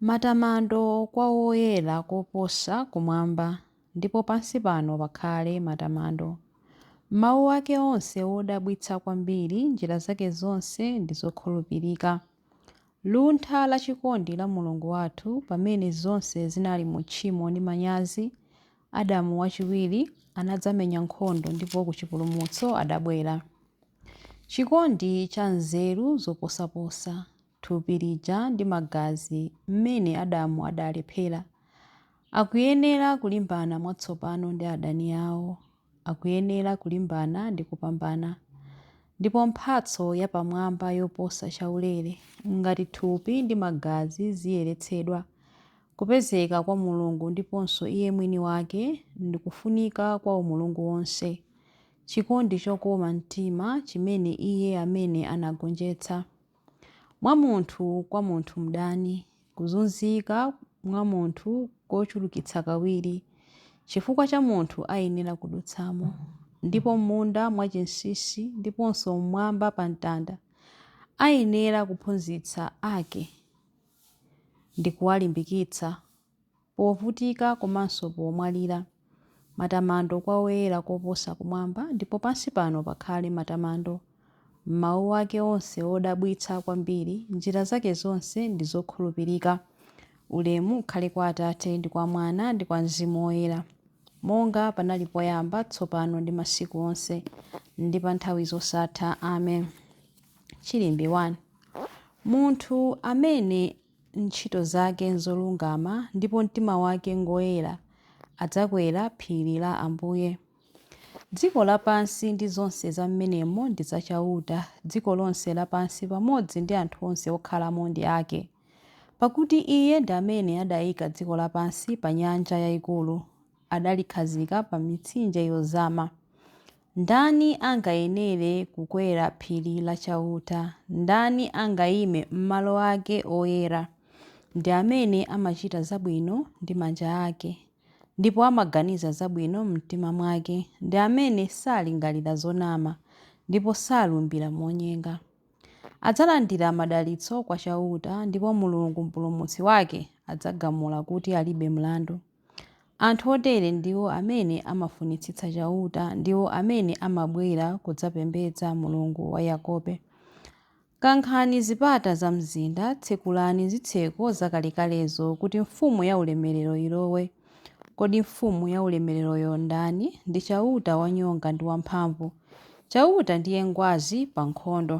Matamando kwa Woyera koposa kumwamba, ndipo pansi pano pakhale matamando. Mawu ake onse wodabwitsa kwambiri, njira zake zonse ndi zokhulupirika. Luntha la chikondi la Mulungu wathu, pamene zonse zinali mu tchimo ndi manyazi, Adamu wachiwiri anadzamenya nkhondo ndipo ku chipulumutso adabwera. Chikondi cha nzeru zoposaposa, thupi lija ndi magazi mmene Adamu adalephera. Akuyenera kulimbana mwatsopano ndi adani awo. Akuyenera kulimbana ndi kupambana. Ndipo mphatso yapamwamba yoposa chaulere, ngati thupi ndi magazi ziyeretsedwa, Kupezeka kwa Mulungu ndiponso Iye mwini wake ndi kufunika kwa umulungu wonse, chikondi chokoma mtima chimene Iye amene anagonjetsa, mwa munthu kwa munthu mdani, kuzunzika mwa munthu kochulukitsa kawiri, chifukwa cha munthu ayenera kudutsamo, ndipo m'munda mwachinsinsi ndiponso m'mwamba pa mtanda, ayenera kuphunzitsa ake. ndi kuwalimbikitsa povutika komanso pomwalira. Matamando kwa Woyera Koposa kumwamba ndipo pansi pano pakhale matamando. M'mawu ake onse odabwitsa kwambiri, njira zake zonse ndi zokhulupirika. Ulemu ukhale kwa Atate, ndi kwa Mwana, ndi kwa Mzimu Woyera, monga panali poyamba, tsopano ndi masiku onse, ndi pa nthawi zosatha. Amen. Chilimbi 1. Munthu amene ntchito zake nzolungama ndipo mtima wake ngoyera adzakwera phiri la Ambuye. Dziko lapansi ndi zonse za mmenemo ndi za Chauta, dziko lonse lapansi pamodzi ndi anthu onse okhalamo ndi ake. Pakuti Iye ndi amene adaika dziko lapansi pa nyanja yaikulu, adalikhazika pa mitsinje yozama. Ndani angayenere kukwera phiri la Chauta? Ndani angaime m'malo ake oyera? Ndi amene amachita zabwino ndi manja ake, ndipo amaganiza zabwino m'mtima mwake, ndi amene salingalira zonama, ndipo salumbira monyenga. Adzalandira madalitso kwa Chauta, ndipo Mulungu Mpulumutsi wake adzagamula kuti alibe mlandu. Anthu otere ndiwo amene amafunitsitsa Chauta, ndiwo amene amabwera kudzapembedza Mulungu wa Yakobe. Kankhani zipata za mzinda, tsekulani zitseko zakalekalezo, kuti Mfumu yaulemerero ilowe. Kodi Mfumu yaulemereroyo ndani? Ndi Chauta wanyonga ndi wamphamvu. Chauta ndiye ngwazi pa nkhondo.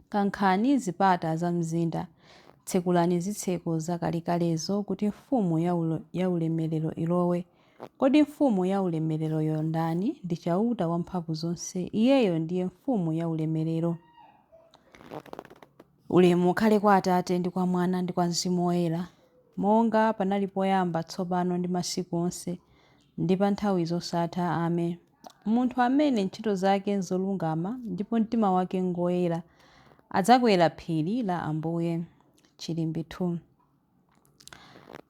Kankhani zipata za mzinda. Tsekulani zitseko zakalekalezo kuti Mfumu yaulemerero ilowe. Kodi Mfumu yaulemereroyo ndani? Ndi Chauta Wamphamvuzonse. Iyeyo ndiye Mfumu yaulemerero. Ulemu ukhale kwa Atate ndi kwa Mwana ndi kwa Mzimu Woyera, monga panali poyamba, tsopano ndi masiku onse, ndi pa nthawi zosatha. Ame. Munthu amene ntchito zake n'zolungama ndipo mtima wake n'ngoyera, adzakwera phiri la Ambuye. Chilimbi 2.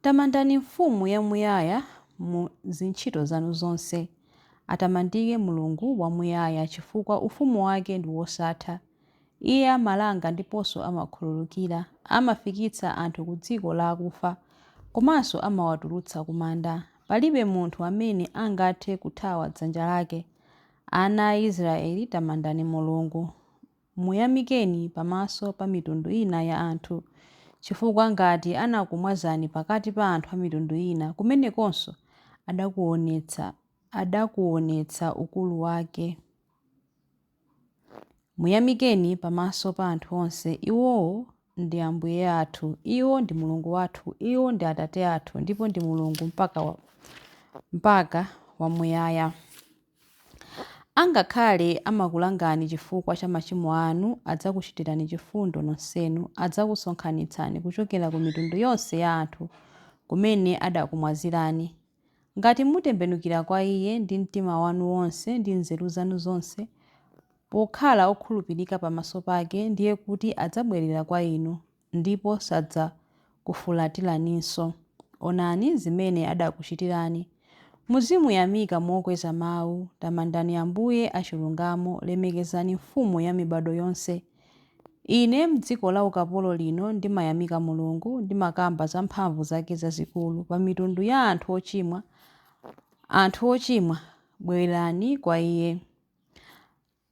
Tamandani Mfumu yamuyaya mu zintchito zanu zonse. Atamandike Mulungu wamuyaya chifukwa ufumu wake ndi wosatha. Iye amalanga ndiponso amakhululukira, amafikitsa anthu ku dziko la akufa komanso amawatulutsa ku manda. Palibe munthu amene angathe kuthawa dzanja lake. Ana a Isiraeli tamandani Mulungu. Muyamikeni pamaso pa mitundu ina ya anthu. Chifukwa ngati anakumwazani pakati pa anthu a mitundu ina, kumenekonso adakuonetsa, adakuonetsa ukulu wake. Muyamikeni pamaso pa anthu onse. Iwowo ndi Ambuye athu. Iwo ndi Mulungu wathu. Iwo ndi Atate athu ndipo ndi Mulungu mpaka, mpaka wamuyaya. Angakhale amakulangani chifukwa cha machimo anu, adzakuchitirani chifundo nonsenu, adzakusonkhanitsani kuchokera ku mitundu yonse ya anthu kumene adakumwazirani, Ngati mutembenukira kwa iye ndi mtima wanu wonse ndi nzeru zanu zonse, pokhala okhulupirika pamaso pake, ndiye kuti adzabwerera kwa inu, ndipo sadzakufulatiraninso. Onani zimene adakuchitirani. Muzimuyamika mokweza mawu, tamandani Ambuye achilungamo, lemekezani Mfumu ya mibadwo yonse. Ine mdziko la ukapolo lino ndimayamika Mulungu, ndimakamba za mphamvu zake zazikulu pa mitundu ya anthu ochimwa, anthu ochimwa, bwerani kwa Iye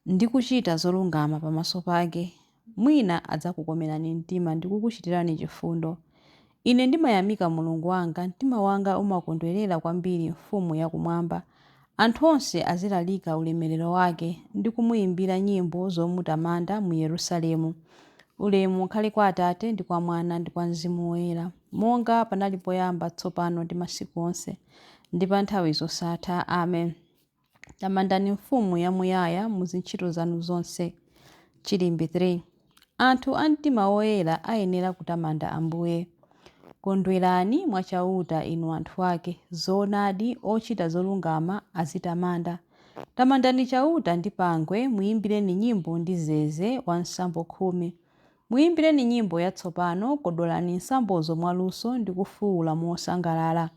ndi kuchita zolungama pamaso pake, mwina adzakukomerani mtima ndi kukuchitirani chifundo. Ine ndimayamika Mulungu wanga, mtima wanga umakondwerera kwambiri Mfumu ya Kumwamba, anthu onse azilalika ulemerero wake, ndi kumuyimbira nyimbo zomutamanda mu Yerusalemu. Ulemu ukhale kwa Atate, ndi kwa Mwana, ndi kwa Mzimu Woyera, monga panali poyamba, tsopano, ndi masiku onse, ndi pa nthawi zosatha. Amen. Tamandani Mfumu yamuyaya mu zintchito zanu zonse. Chilimbi 3. Anthu a mtima woyera ayenera kutamanda Ambuye. Kondwerani mwa Chauta, inu anthu ake. Zoonadi, ochita zolungama azitamanda. Tamandani Chauta ndi pangwe, muimbireni nyimbo ndi zeze wa nsambo khumi. Muimbireni nyimbo yatsopano, kodolani nsambozo mwaluso ndi kufuula mosangalala.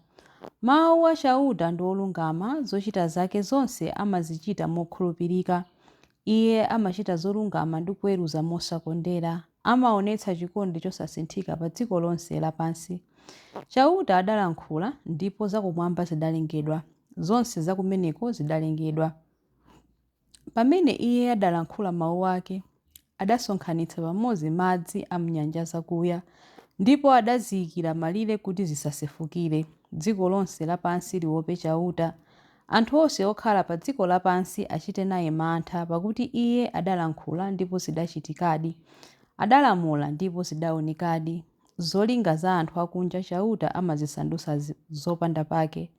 Mawu a Chauta ndi olungama, zochita zake zonse amazichita mokhulupirika. Iye amachita zolungama ndi kuweruza mosakondera, amaonetsa chikondi chosasinthika pa dziko lonse lapansi. Chauta adalankhula, ndipo zakumwamba zidalengedwa, zonse zakumeneko zidalengedwa. Pamene Iye adalankhula mawu ake, adasonkhanitsa pamodzi madzi a m'nyanja zakuya, ndipo adaziikira malire kuti zisasefukire, dziko lonse lapansi liope Chauta. Anthu onse okhala pa dziko lapansi achite naye mantha, pakuti Iye adalankhula ndipo zidachitikadi, adalamula ndipo zidaonekadi. Zolinga za anthu akunja Chauta amazisandutsa zopanda pake.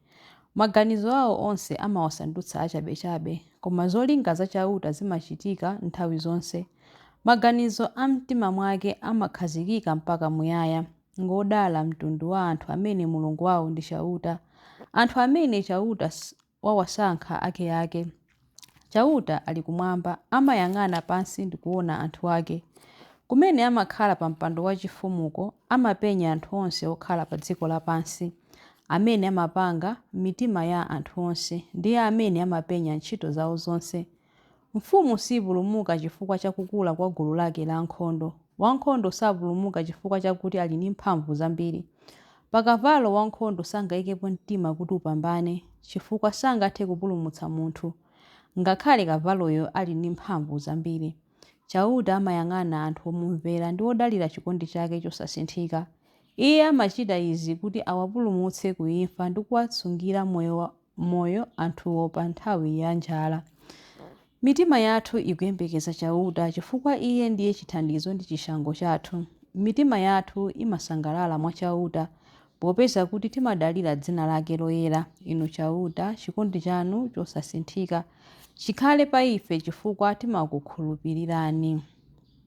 Maganizo ao onse amawasandutsa achabechabe. Koma zolinga za Chauta zimachitika nthawi zonse. Maganizo a m'mtima mwake amakhazikika mpaka muyaya. Ngwodala mtundu wa anthu amene Mulungu wao ndi Chauta, anthu amene Chauta wawasankha akeake. Chauta ali kumwamba, amayang'ana pansi ndi kuwona anthu ake. Kumene amakhala pa mpando wachifumuko, amapenya anthu onse okhala pa dziko lapansi. Amene amapanga mitima ya anthu onse, ndiye amene amapenya ntchito zao zonse. Mfumu siipulumuka chifukwa cha kukula kwa gulu lake la ankhondo. Wankhondo sapulumuka chifukwa chakuti ali ndi mphamvu zambiri. Pa kavalo wankhondo sangaikepo mtima kuti upambane, chifukwa sangathe kupulumutsa munthu, ngakhale kavaloyo ali ndi mphamvu zambiri. Chauta amayang'ana anthu omumvera ndi odalira chikondi chake chosasinthika. Iye amachita izi kuti awapulumutse ku imfa ndi kuwasungira moyo. moyo anthuwo pa nthawi ya njala. Mitima yathu ikuyembekeza Chauta chifukwa Iye ndiye chithandizo ndi chishango chathu. Mitima yathu imasangalala mwa Chauta, popeza kuti timadalira dzina lake loyera. Inu Chauta, chikondi chanu chosasinthika chikhale pa ife chifukwa timakukhulupirirani.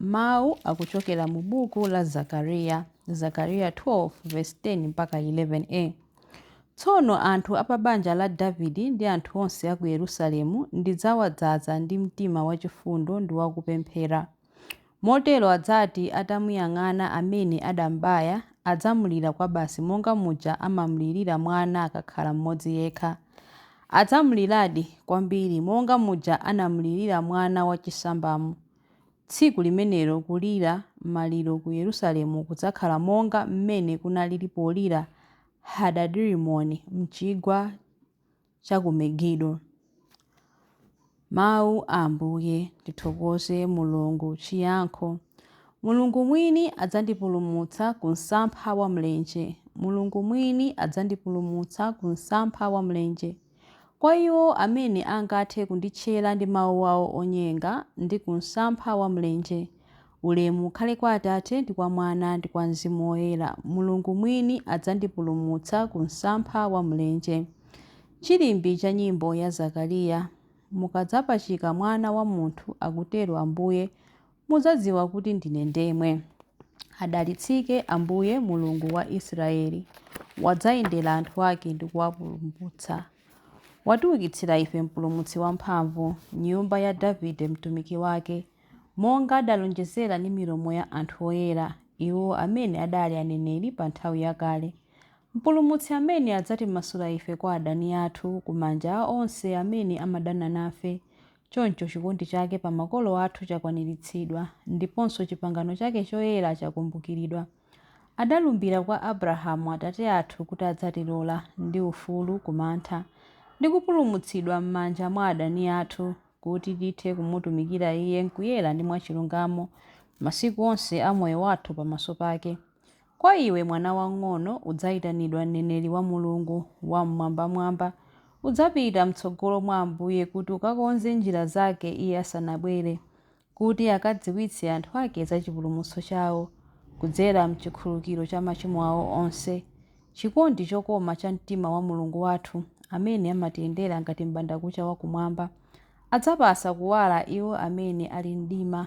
Mawu akuchokera mu buku la Zakariya, Zakariya 12 vesi 10 mpaka 11a. Tsono anthu a pa banja la Davide ndi anthu onse a ku Yerusalemu ndidzawadzaza ndi mtima wachifundo ndi wakupemphera. Motero adzati atamuyang'ana amene adam'baya, adzamulira kwabasi monga muja amamulirira mwana akakhala mmodzi yekha. Adzamuliradi kwambiri monga muja anamulirira mwana wachisambamo. Tsiku limenelo kulira maliro ku Yerusalemu kudzakhala monga mmene kunalili polira Hadadirimoni m'chigwa cha ku Megido. Mawu a Ambuye. Tithokoze Mulungu. Chiyankho Mulungu mwini adzandipulumutsa ku msampha wa mlenje. Mulungu mwini adzandipulumutsa ku msampha wa mlenje. Kwa iwo amene angathe kunditchera ndi mawu awo onyenga ndi ku msampha wa mlenje, ulemu ukhale kwa Atate ndi kwa Mwana ndi kwa Mzimu Woyera, Mulungu mwini adzandipulumutsa ku msampha wa mlenje. Chilimbi cha nyimbo ya Zakariya, Mukadzapachika Mwana wa munthu, akutero Ambuye, Mudzadziwa kuti ndine ndemwe. Adalitsike Ambuye, Mulungu wa Israeli, wadzayendera anthu ake ndi kuwapulumutsa. Watiukitsira ife mpulumutsi wamphamvu, m'nyumba ya Davide mtumiki wake, monga adalonjezera ndi milomo ya anthu oyera, iwo amene adali aneneri pa nthawi yakale, mpulumutsi amene adzatimasula ife kwa adani athu, ku manja a onse amene amadana nafe, Choncho chikondi chake pa makolo athu chakwaniritsidwa, ndiponso chipangano chake choyera chakumbukiridwa. Adalumbira kwa Abrahamu atate athu kuti adzatilola ndi ufulu ku mantha, ndi kupulumutsidwa m'manja mwa adani athu, kuti tithe kumutumikira Iye m'kuyera ndi mwachilungamo masiku onse a moyo wathu pamaso pake. Kwa iwe, mwana wang'ono, udzaitanidwa mneneri wa Mulungu Wam'mwambamwamba. Udzapita m'tsogolo mwa Ambuye kuti ukakonze njira zake Iye asanabwere, kuti akadziwitse anthu ake za chipulumutso chawo, kudzera m'chikhululukiro cha machimo awo onse. Chikondi chokoma cha mtima wa Mulungu wathu, amene amatiyendera ngati m'bandakucha wa kumwamba, adzapatsa kuwala iwo amene ali m'mdima.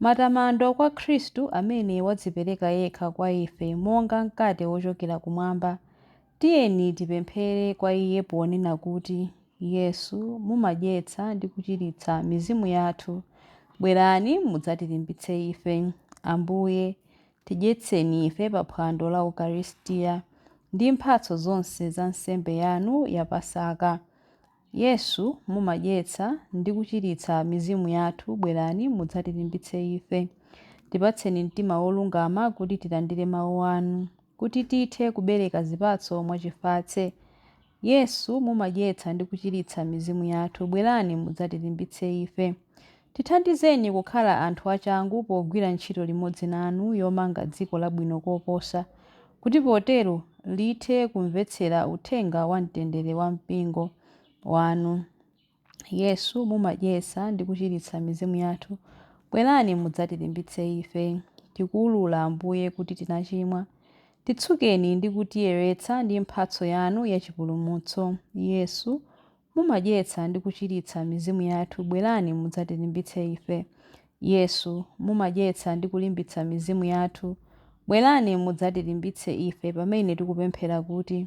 Matamando kwa Khristu amene wadzipereka yekha kwa ife monga mkate wochokera kumwamba. Tiyeni tipemphere kwa Iye ponena kuti, Yesu, mumadyetsa ndi kuchiritsa mizimu yathu. Bwerani mudzatilimbitse ife. Ambuye, tidyetseni ife pa phwando la Ukaristia ndi mphatso zonse za nsembe yanu ya Pasaka. Yesu, mumadyetsa ndi kuchiritsa mizimu yathu, bwerani mudzatilimbitse ife. Tipatseni mtima wolungama kuti tilandire Mawu anu, kuti tithe kubereka zipatso mwachifatse. Yesu, mumadyetsa ndi kuchiritsa mizimu yathu, bwerani mudzatilimbitse ife. Tithandizeni kukhala anthu achangu pogwira ntchito limodzi nanu yomanga dziko labwino koposa, kuti potero lithe kumvetsera uthenga wa mtendere wa Mpingo wanu. Yesu, mumadyetsa ndi kuchiritsa mizimu yathu, bwerani mudzatilimbitse ife. Tikuulula, Ambuye, kuti tinachimwa. Titsukeni ndi kutiyeretsa ndi mphatso yanu ya chipulumutso. Yesu, Mumadyetsa ndi kuchiritsa mizimu yathu, bwerani mudzatilimbitse ife. Yesu, mumadyetsa ndi kulimbitsa mizimu yathu, bwerani mudzatilimbitse ife pamene tikupemphera kuti,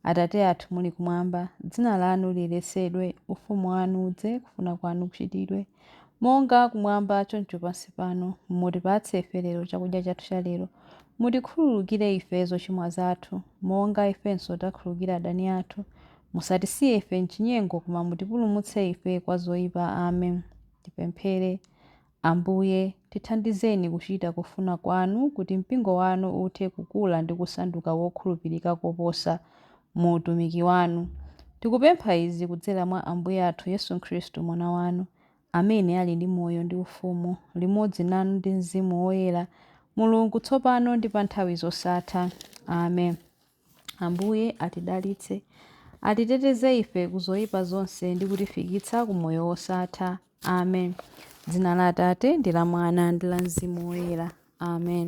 Atate athu muli kumwamba, dzina lanu liyeretsedwe, ufumu wanu udze, kufuna kwanu kuchitidwe, monga kumwamba choncho pansi pano, mutipatse ife lero chakudya chathu cha lero, mutikhululukire ife zochimwa zathu, monga ifenso takhululukira adani athu, Musatisiye ife m'chinyengo, koma mutipulumutse ife kwa zoipa. Amen. Tipemphere. Ambuye, tithandizeni kuchita kufuna kwanu kuti mpingo wanu uthe kukula ndi kusanduka wokhulupirika koposa mu utumiki wanu. Tikupempha izi kudzera mwa Ambuye athu Yesu Khristu, Mwana wanu, amene ali ndi moyo ndi ufumu limodzi nanu ndi Mzimu Woyera, Mulungu, tsopano ndi pa nthawi zosatha. Amen. Ambuye atidalitse, atiteteze ife ku zoyipa zonse ndi kutifikitsa ku moyo wosatha. Amen. Dzina la Atate ndi la Mwana ndi la Mzimu Woyera. Amen.